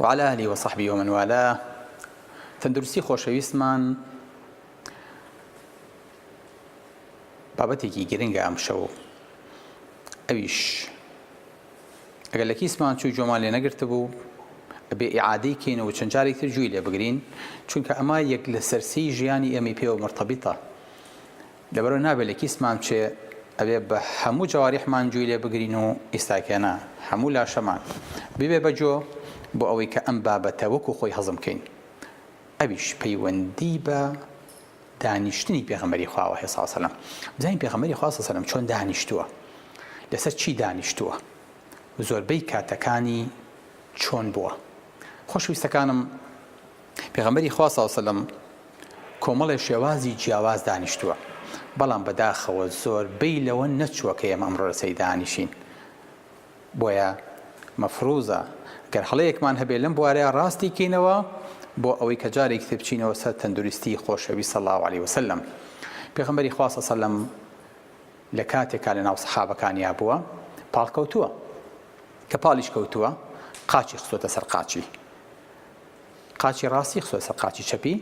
و علی اهلی و صحبی و من والاه تەندروستی خۆشەویستمان بابەتێکی گرنگە ئەم شەو ئەویش ئەگەر لە کیسمان چوو جۆمان لێ نەگرتە بوو بێ ئعادەی کەینەوە چەند جارێک تر جووی لێ بگرین چونکە ئەمە یەک لە سەرسی ژیانی ئێمەی پێوە مرتەبیتە لەبەرئەوەی نابێ لە کیسمان بچێ ئەبێ بە هەموو جەواریحمان جووی لێ بگرین و ئیستاکێنە هەموو لاشەمان ببێ بە جۆ بۆ ئەوەی کە ئەم بابەتە وەکوو خۆی هەزم کەین ئەویش پەیوەندی بە دانیشتنی پێغەمبەری خواوە هەیە ساڵ سەلەم بزانین پێغەمبەری خوا ساڵ سەلەم چۆن دانیشتووە لەسەر چی دانیشتووە زۆربەی کاتەکانی چۆن بووە خۆشویستەکانم پێغەمبەری خوا ساڵ سەلەم کۆمەڵێ شێوازی جیاواز دانیشتووە، بەڵام بەداخەوە زۆر بەی لەوە نەچووە کە ئێمە ئەمڕۆ لەسەری دانیشین. بۆیە مەفروزە گەر هەڵەیەکمان هەبێ لەم بوارەیا ڕاستی کەینەوە بۆ ئەوەی کە جارێکی تر بچینەوە سەر تەندروستی خۆشەویست صلی اللە علیە وسلم. پێغەمبەری خوا صلی اللە لە کاتێکا لە ناو سەحابەکانیا بووە پاڵکەوتووە. کە پاڵیش کەوتووە قاچی خستۆتە سەر قاچی. قاچی ڕاستی خستۆتە سەر قاچی چەپی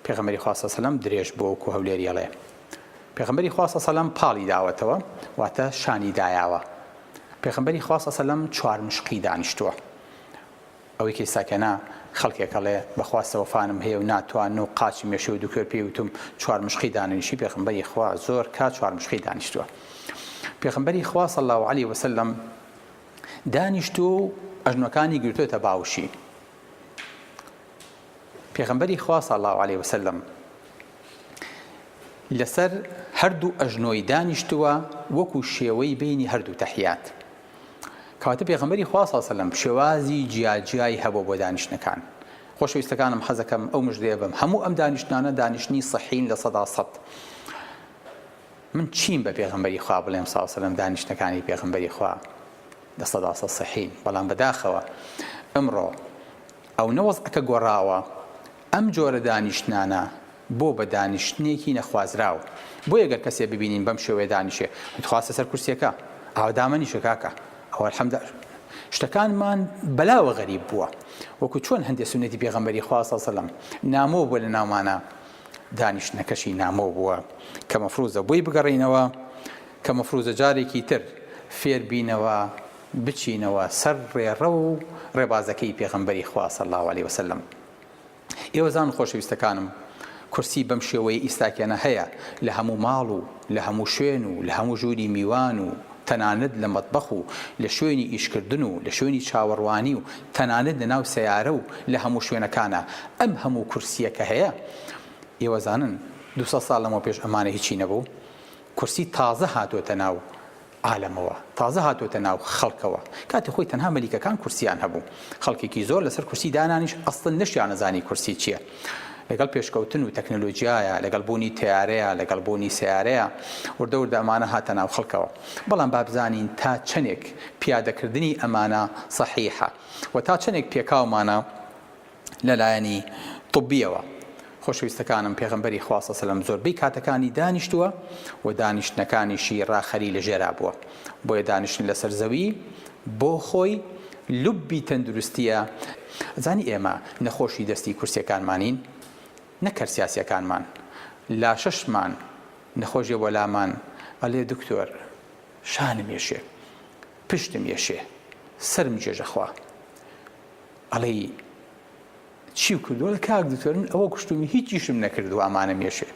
پێغەمبەری خوا صلی سەلەم درێژ بۆ وەکو هەولێری ئەڵێ پێغەمبەری خوا صلی سەلەم پاڵی داوەتەوە واتە شانی دایاوە پێغەمبەری خوا صلی سەلەم چوار مشقی دانیشتووە ئەوەی کەیساکەنا خەڵکێکەڵێ بەخواستە وەفانم هەیە و ناتوان و قاچی مێشە و دوکوێر پێی وتم چوار مشقی دانیشی پێغەمبەری خوا زۆر کا چوار مشقی دانیشتووە پێغەمبەری خوا صلی الله علیه وسلم دانیشتووە و ئەژنۆکانی گرتۆتە باوشی پێغەمبەری خوا صلی اللە علیە وسلم لەسەر هەردوو ئەژنۆی دانیشتووە وەکو شێوەی بینی هەردوو تەحیات کەواتە پێغەمبەری خوا صلی اللە علیە وسلم شێوازی جیاجیای هەبوو بۆ دانیشتنەکان خۆشەویستەکانم حەزەکەم ئەو مژدەیە بم هەموو ئەم دانیشتنانە دانیشتنی صحین لە سەدا سەد من چیم بە پێغەمبەری خوا بڵێم ساو سەلەم دانیشتنەکانی پێغەمبەری خوا لە سەدا سەد سەحین بەڵام بەداخەوە ئەمڕۆ ئەونە وەزعەکە گۆڕاوە ئەم جۆرە دانیشتنانە بۆ بە دانیشتنێکی نەخوازراو بۆیە گەر کەسێ ببینین بەم شێوەیە دانیشێ خواستە سەر کورسیەکە ئاو دامەنیشە کاکە ئەوە الحمد شتەکانمان بەلاوە غەریب بووە وەکو چۆن هەندێک سنەتی پێغەمبەری خوا سەلەم نامۆ بووە لە ناومانە دانیشتنەکەشی نامۆ بووە کە مەفروزە بۆی بگەڕێینەوە کە مەفروزە جارێکی تر فێر بینەوە بچینەوە سەر ڕێڕەو و ڕێبازەکەی پێغەمبەری خوا صلی اللە علیە وسلم ئێوەزان خۆشەویستەکانم کورسی بەم شێوەیە ئیستاکێنە هەیە لە هەموو ماڵ و لە هەموو شوێن و لە هەموو ژووری میوان و تەنانەت لە مەتبەخ و لە شوێنی ئیشکردن و لە شوێنی چاوەڕوانی و تەنانەت لە ناو سەیارە و لە هەموو شوێنەکانا ئەم هەموو کورسییە کە هەیە ئێوە زانن دوو سەد ساڵ لەمەو پێش ئەمانە هیچی نەبوو کورسی تازە هاتۆتە ناو عالەمەوە تازە هاتۆتە ناو خەڵکەوە کاتی خۆی تەنها مەلیکەکان کورسیان هەبوو خەڵکێکی زۆر لەسەر کورسی دانانیش ئەسڵەن نەشیانەزانی کورسی چییە لەگەڵ پێشکەوتن و تەکنەلۆجیایە، لەگەڵ بوونی تەیارەیە، لەگەڵ بوونی سەیارەیە، وردە وردە ئەمانە هاتە ناو خەڵکەوە. بەڵام با بزانین تا چەندێک پیادەکردنی ئەمانە سەحیحە و تا چەندێک پێکاومانە لە لایەنی طبییەوە. خۆشەویستەکانم پێغەمبەری خوا صلی اللە زۆربەی کاتەکانی دانیشتووە و دانیشتنەکانیشی ڕاخەری لە ژێرا بووە. بۆیە دانیشتن لەسەر زەوی بۆ خۆی لوبی تەندروستیە زانی ئێمە نەخۆشی دەستی کورسیەکانمانین نەک کەر سیاسیەکانمان لاشەشمان نەخۆشیە وەلامان ئەلێ دکتۆر شانم یەشێ پشتم یەشێ سەرم جێژە خوا ئەڵێی چیو کردوە کاک دکتۆر من ئەوە کوشتومی هیچیشم نەکردوە ئەمانم یەشێ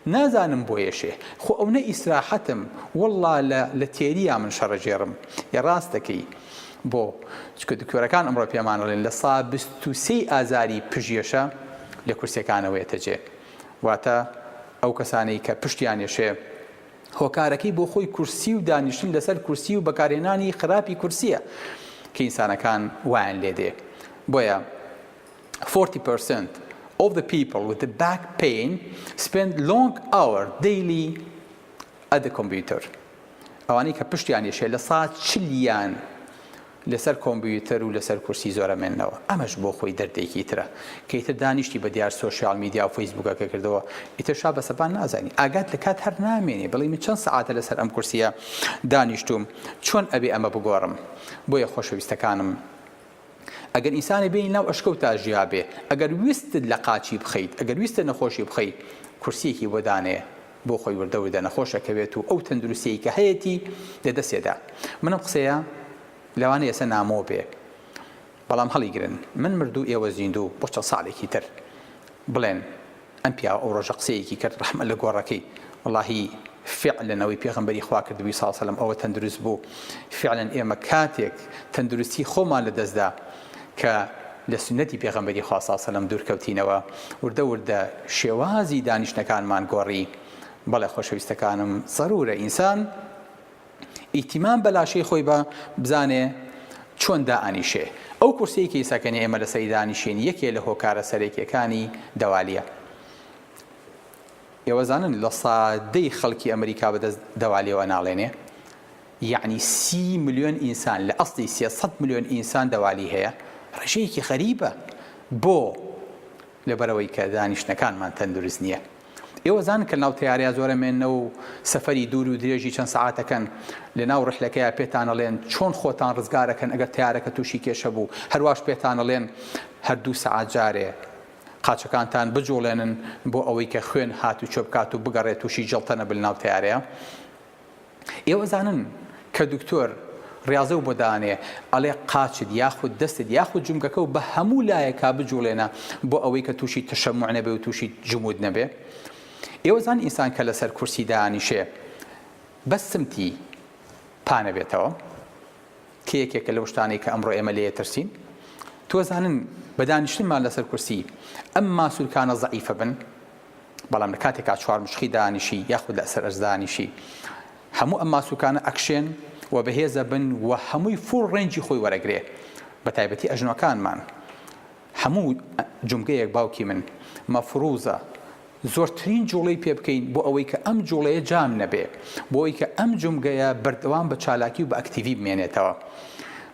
نازانم بۆ ئێشێ خۆ ئەونە ئیسراحەتم واللە لە لە تێریا من شەڕە ژێڕم ی ڕاست دەکەی بۆ چکە دکتۆرەکان ئەمڕۆ پێمان ئەڵێن لە سا بیست و سێی ئازاری پژیەشە لە کورسیەکانەوە یەتە جێ واتە ئەو کەسانەی کە پشتیان یەشێ هۆکارەکەی بۆ خۆی کورسی و دانیشتن لەسەر کورسی و بەکارهێنانی خراپی کورسیە کە ئینسانەکان وایان لێدێ بۆیە فۆرتی پەرسەنت ئۆف دە پیپڵ ویت باک پەین سپێند لۆنگ ئاوەر دەیلی ئەت دە کۆمپیوتەر ئەوانەی کە پشتیان یشێ لە سات چلیان لەسەر کۆمپیوتەر و لەسەر کورسی زۆرە مێنەوە ئەمەش بۆ خۆی دەردێکی ترە کەیتر دانیشتی بە دیار سوۆسیال میدیا و فەیسبوکەکە کردەوە ئیتر شا بە سەپان نازانی ئاگات لە کات هەر نامێنێ بڵی من چەند سعاتە لەسەر ئەم کورسیە دانیشتوم چۆن ئەبێ ئەمە بگۆڕم بۆیە خۆشەویستەکانم ئەگەر ئینسانێ بێنی ناو ئەشکەو تا ژیا بێ، ئەگەر ویستت لە قاچی بخەیت، ئەگەر ویستت نەخۆشی بخەی، کورسییەکی بۆ دانێ، بۆ خۆی وردە وردە نەخۆش ئەکەوێت و ئەو تەندروستییەی کە هەیەتی لە دەستێ دا. من ئەم قسەیە لەوانەیە ئێستا نامۆ بێ، بەڵام هەڵیگرن. من مردوو ئێوە زیندوو بۆ چەند ساڵێکی تر بڵێن ئەم پیاوە ئەو ڕۆژە قسەیەکی کرد ڕەحمەت لە گۆڕەکەی وەڵاهی فعلەن ئەوەی پێغەمبەری خوا کردبوی ساڵ سەلەم ئەوە تەندروست بوو فعلەن ئێمە کاتێک تەندروستی خۆمان لە دەستدا کە لە سنەتی پێغەمبەری خوا ساڵ سەلەم دوورکەوتینەوە وردە وردە شێوازی دانیشتنەکانمان گۆڕی بەڵێ خۆشەویستەکانم زەرورە ئینسان ئیتیمام بە لاشەی خۆی بە بزانێ چۆن دائەنیشێ. ئەو کورسیەی کیسەکەنی ئێمە لە سەری دانیشین یەکێ لە هۆکارە سەرەکیەکانی دەوالیە. ئێوە زانن لە سادەی خەڵکی ئەمریکا بە دەست دەوالیەوە ناڵێنێ؟ یەعنی سی ملیۆن ئینسان لە ئەسڵی سێ سەد ملیۆن ئینسان دەوالی هەیە. ڕێژەیەکی غەریبە. بۆ؟ لەبەرئەوەی کە دانیشتنەکانمان تەندروست نیە. ئێوە زان کە لەناو تەیارەیا زۆرە مێننەوە و سەفەری دوور و درێژی چەند سەعاتەکەن لەناو ڕیحلەکەیا پێتان ئەڵێن چۆن خۆتان ڕزگار ئەکەن ئەگەر تەیارەکە تووشی کێشە بوو هەرواش پێتان ئەڵێن هەر دوو سەعات جارێ قاچەکانتان بجوڵێنن بۆ ئەوەی کە خوێن هاتوچۆ بکات و بگەڕێ تووشی جەڵتە نەبن لەناو تەیارەیا. ئێوە زانن کە دکتۆر ڕیاضەو بۆ دانێ ئەڵێ قاچت یاخود دەستت یاخود جومگەکەو بە هەموو لایەکا بجوڵێنە بۆ ئەوەی کە تووشی تەشەموع نەبێ و تووشی جمود نەبێ ئێوە زان ئینسان کە لەسەر کورسی دانیشێ بە سمتی پانەبێتەوە کە یەکێکە لەو شتانەی کە ئەمڕۆ ئێمە لێ ترسین تۆزانن بەدانیشتنمان لەسەر کورسی ئەم ماسوولکانە زعیفە بن بەڵام لە کاتێکا چوار مشخی دانیشی یاخود لە سەر ئەرز دانیشی هەموو ئەم ماسوکانە ئەکشێن و بەهێزە بن و هەمووی فوڵ ڕێنجی خۆی وەرەگرێ بە تایبەتی ئەژنۆکانمان هەموو جومگەیەک باوکی من مەفروزە زۆرترین جوڵەی پێ بکەین بۆ ئەوەی کە ئەم جوڵەیە جام نەبێ بۆی کە ئەم جومگەیە بەردەوام بە چالاکی و بە ئەکتیڤی بمێنێتەوە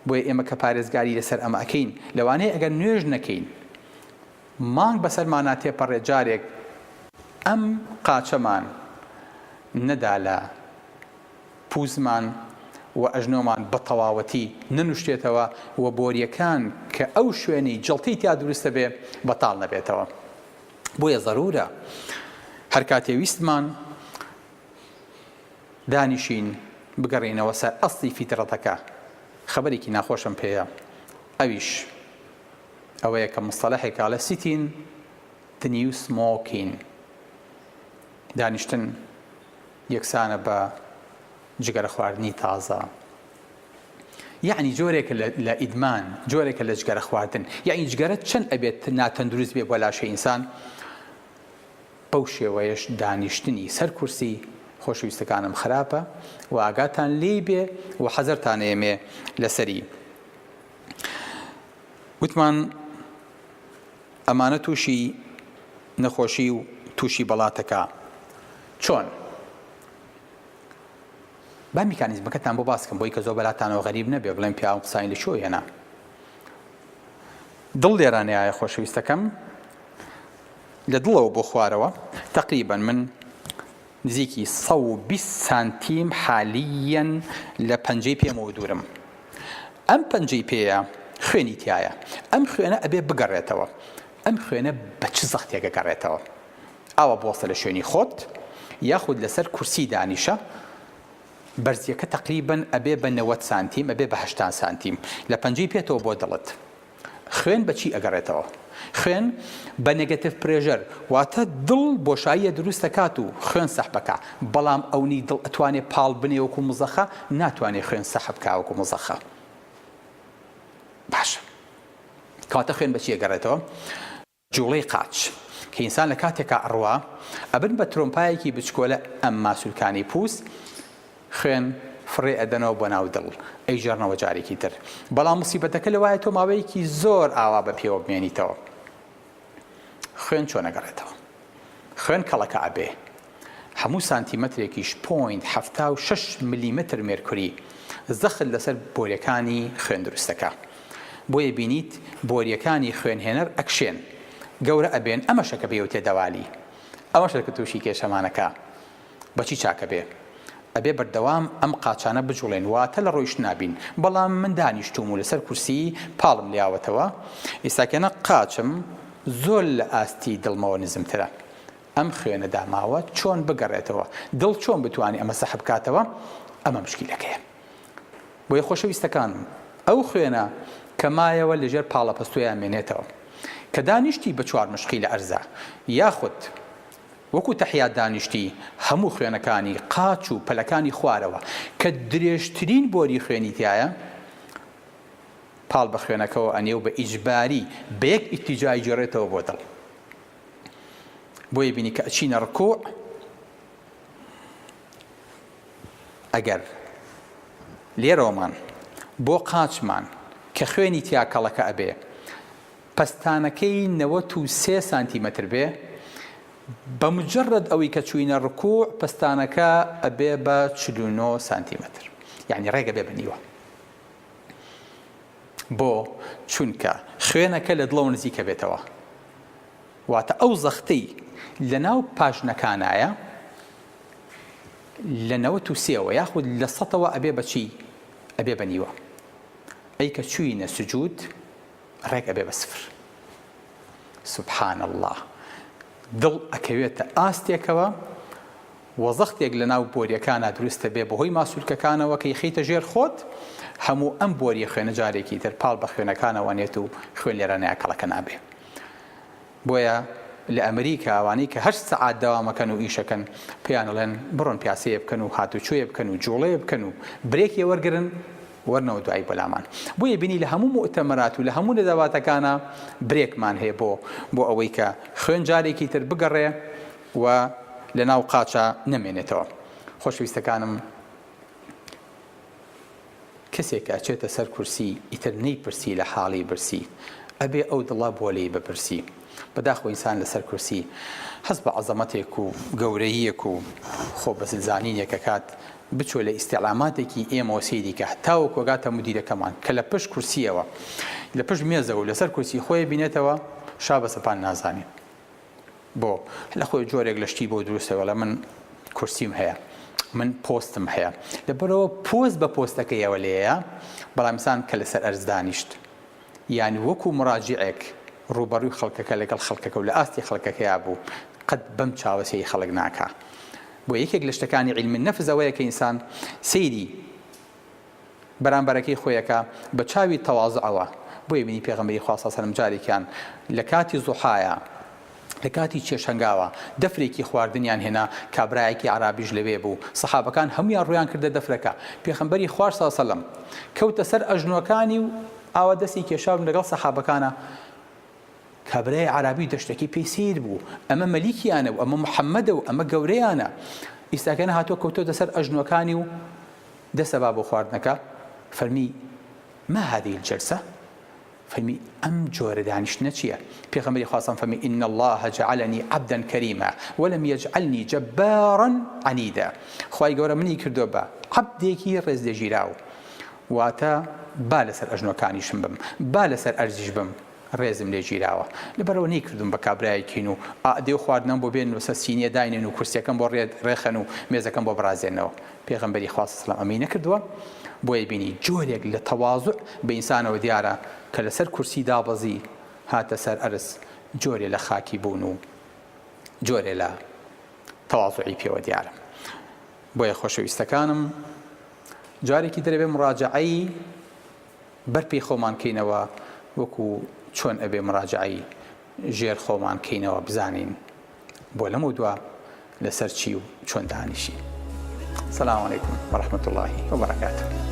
بۆیە ئێمە کە پارێزگاری لەسەر ئەمە ئەەکەین لەوانەیە ئەگەر نوێژ نەکەین مانگ بەسەرمانا تێپەڕێ جارێک ئەم قاچەمان نەدا لە پووزمان و ئەژنۆمان بە تەواوەتی نەنووشتێتەوە و بۆرییەکان کە ئەو شوێنەی جەڵتەی تیا دروست دەبێ بەتاڵ نەبێتەوە بۆیە زەروورە هەر کاتێ ویستمان دانیشین بگەڕێینەوە سەر ئەسڵی فیتڕەتەکە خەبەرێکی ناخۆشم پێیە ئەویش ئەوەیە کە مستەلەحێک ئەڵێ سیتین the new smoking دانیشتن یەکسانە بە جگەرە خواردنی تازە یعنی جۆرێکە لە ئیدمان جۆرێکە لە جگەرە خواردن یعنی جگەرە چەند ئەبێت ناتەندروست بێ بۆ لاشە ئینسان بەو شێوەیەش دانیشتنی سەر کورسی خۆشویستەکانم خراپە و ئاگاتان لێی بێ و حەزەرتان ئێمێ لەسەری وتمان ئەمانە تووشی نەخۆشی و تووشی بەڵاتەکە چۆن؟ با میکانیزمەکەتان بۆ باسکەم بۆی کە زۆر بەلاتانەوە غەریب نەبێ بڵێن پیاوم قسانی لە چۆ هێنا دڵ لێرانەیە خۆشەویستەکەم لە دڵەوە بۆ خوارەوە تقریبا من نزیکی سەد و بیست سانتیم حالییەن لە پەنجەی پێمەوە دوورم ئەم پەنجەی پێیە خوێنی تیایە ئەم خوێنە ئەبێ بگەڕێتەوە ئەم خوێنە بە چ زەختێک ئەگەڕێتەوە ئاوا بوەستە لە شوێنی خۆت یاخود لەسەر کورسی دانیشە بەرزیەکە تەقریبەن ئەبێ بە نەوەد سانتیم ئەبێ بە هەشتا سانتیم لە پەنجەی پێتەوە بۆ دڵت. خوێن بە چی ئەگەڕێتەوە؟ خوێن بە نێگەتیڤ پرێژەر واتە دڵ بۆشاییە دروست ئەکات و خوێن سەحب ئەکا بەڵام ئەونی دڵ ئەتوانێ پاڵ بنێ وەکو مزەخە ناتوانێ خوێن سەحب کا وەکو مزەخە باشە کەواتە خوێن بە چی ئەگەڕێتەوە؟ جوڵەی قاچ کە ئینسان لە کاتێکا ئەڕوا ئەبن بە ترۆمپایەکی بچکۆلە ئەم ماسولکانەی پوست خوێن فڕێ ئەدەنەوە بۆ ناو دڵ ئەیگێڕنەوە جارێکی تر بەڵام موسیبەتەکە لەوایە تۆ ماوەیەکی زۆر ئاوا بە پێوە بمێنیتەوە خوێن چۆن ئەگەڕێتەوە خوێن کەڵەکە ئەبێ هەموو سانتیمەترێکیش پۆینت حەفتا و شەش ملیمەتر مێرکوری زەخت لەسەر بۆریەکانی خوێن دروستەکا بۆیە بینیت بۆریەکانی خوێنهێنەر ئەکشێن گەورە ئەبێن ئەمەشە کە پێیوتێ دەوالی ئەوەشە کە توشی کێشەمانەکا بەچی چاکەبێ ئەبێ بەردەوام ئەم قاچانە بجوڵێن واتە لە ڕۆیشتنا بین بەڵام من دانیشتوم و لەسەر کورسی پاڵم لیاوەتەوە ئیستاکێنە قاچم زۆر لە ئاستی دڵمەوە نزمترە ئەم خوێنە داماوە چۆن بگەڕێتەوە دڵ چۆن بتوانێ ئەمە سەحب کاتەوە ئەمە مشکیلەکەیە بۆیە خۆشەویستەکانم ئەو خوێنە کە مایەوە لەژێر پاڵەپەستۆیان مێنێتەوە کە دانیشتی بە چوار مشقی لە ئەرزا یاخود وەکو تەحیات دانیشتی هەموو خوێنەکانی قاچ و پەلەکانی خوارەوە کە درێژترین بۆری خوێنی تایە پاڵ بە خوێنەکەەوە ئەنێ و بە ئیجباری بە یەک ئیتیجای جێڕێتەوە بۆ دڵ بۆیە بینی کە ئەچینە ڕکوع ئەگەر لێرەوەمان بۆ قاچمان کە خوێنی تیا کەڵەکە ئەبێ پەستانەکەی نەوەت و سێ سانتیمەتر بێ بە مجرد ئەوەی کە چوینە ڕکوع پستانەکە ئەبێ بە 49 سانتیمەتر یعنی ڕێگە بێ بنیوە بۆ؟ چونکە خوێنەکە لە دڵەوە نزیکەبێتەوە واتە ئەو زەختەی لەناو پاژنەکانایە لە نەوەت و سێوە یاخود لە سەتەوە ئەبێ بە چی؟ ئەبێ بە نیوە ئەی کە چووینە سجود ڕێک ئەبێ بە سفر سبحان اللە دڵ ئەکەوێتە ئاستێکەوە وزەختێک لەناو بۆریەکانا دروست دەبێت بەهۆی ماسولکەکانەوە کە یخەیتە ژێر خۆت هەموو ئەم بۆریە خوێنە جارێکی تر پاڵ بە خوێنەکانەوە نێت و خوێن لێرانە یاکەڵەکە نابێ بۆیە لە ئەمریکا ئەوانەی کە هەشت سەعات دەوامەکەن و ئیشەکەن پێیان ئەڵێن بڕۆن پیاسەیە بکەن و هاتوچۆیە بکەن و جوڵەیە بکەن و برێکێ وەرگرن وەرنەوە دوایی بەلامان بۆیە بینی لە هەموو مؤتەمەرات و لە هەموو نەداواتەکانە برێکمان هەیە بۆ بۆ ئەوەی کە خوێن جارێکی تر بگەڕێ و لە ناو قاچا نەمێنێتەوە خۆشەویستەکانم کەسێک ئەچێتە سەر کورسی ئیتر نەیپرسی لە حاڵی برسی ئەبێ ئەو دڵە بۆ لێی بپرسی بەداخۆ ئینسان لەسەر کورسی هەست بە عەزەمەتێک و گەورەییەک و خۆ بەزلزانینێک ئەکات بچۆ لە ئیستیعلاماتێکی ئێمەوە سەیری کە تاوەکو ئەگاتە مودیرەکەمان کە لە پشت کورسییەوە لە پشت مێزەوە لەسەر کورسی خۆی بینێتەوە شا بە سەپان نازانێ بۆ لە خۆی جۆرێک لە شتی بۆ دروستە وەڵا من کورسیم هەیە من پۆستم هەیە لەبەرەوە پۆست بە پۆستەکە یەوە لێەیە بەڵامسان کە لەسەر ئەرزدانیشت یان وەکو مراجعێک ڕوبەڕوی خەڵکەکە لەگەڵ خەڵکەکە و لە ئاستی خەڵکەکەیا بوو قەت بەم چاوەسەی خەڵک ناکە بۆ یەکێک لە شتەکانی علمی نەفزەوەیە کە ئینسان سەیری بەرامبەرەکەی خۆی ئەکا بە چاوی تەوازعەوە بۆیە بینی پێغەمبەری خوا صلی سەلم جارێکیان لە کاتی زوحایا لە کاتی چێ شەنگاوە دەفرێکی خواردنیان هێنا کابرایەکی عەرابیش لەوێ بوو صەحابەکان هەموویان ڕوویان کردە دەفرەکە پێخەمبەری خواش صلی سەلم کەوتە سەر ئەژنۆکانی و ئاوا دەستی کێشاو لەگەڵ صەحابەکانا کابرای عەرابی دەشتەکەی پێی سیر بوو ئەمە مەلیکیانە و ئەمە محەممەدە و ئەمە گەورەیانە ئیستاکەنە هاتۆ کەوتۆتە سەر ئەژنۆکانی و دەسە با بۆ خواردنەکە فەرمی، ما هذه الجلسە، فەرمی، ئەم جۆرە دانیشتنە چییە؟ پێغەمبەری خوا سەڵ فەرمی، ان اللە جعلنی عبدا کریما ولم یجعلنی جبارا عنیدا، خوای گەورە منی کردووە بە عەبدێکی ڕێزلێژیراو، واتە با لەسەر ئەژنۆکانیشم بم، با لەسەر ئەرزیش بم، ڕێزم لێ گیراوە لەبەرئەوە نەیکردووم بە کابرایەک هین و ئاعدێ و خواردنەم بۆ بێنن و سەر سینیە داینێن و کورسیەکەم بۆ ڕێخەن و مێزەکەم بۆ بڕازێنەوە پێغەمبەری خوا صلی اللە ئەمەی نەکردووە بۆیە بینی جۆرێک لە تەواضع بە ئینسانەوە دیارە کە لەسەر کورسی دابەزی هاتە سەر ئەرز جۆرێ لە خاکی بوون و جۆرێ لە تەواضعی پێوە دیارە بۆیە خۆشەویستەکانم جارێکی ترەبێ مڕاجعەی بەر پێی خۆمان کەینەوە وەکو چۆن ئەبێ مراجعەی ژێر خۆمان کەینەوە بزانین بۆ لەمەودوا لەسەر چی و چۆن دانیشین سلام علیکم ورحمة الله وبرکاته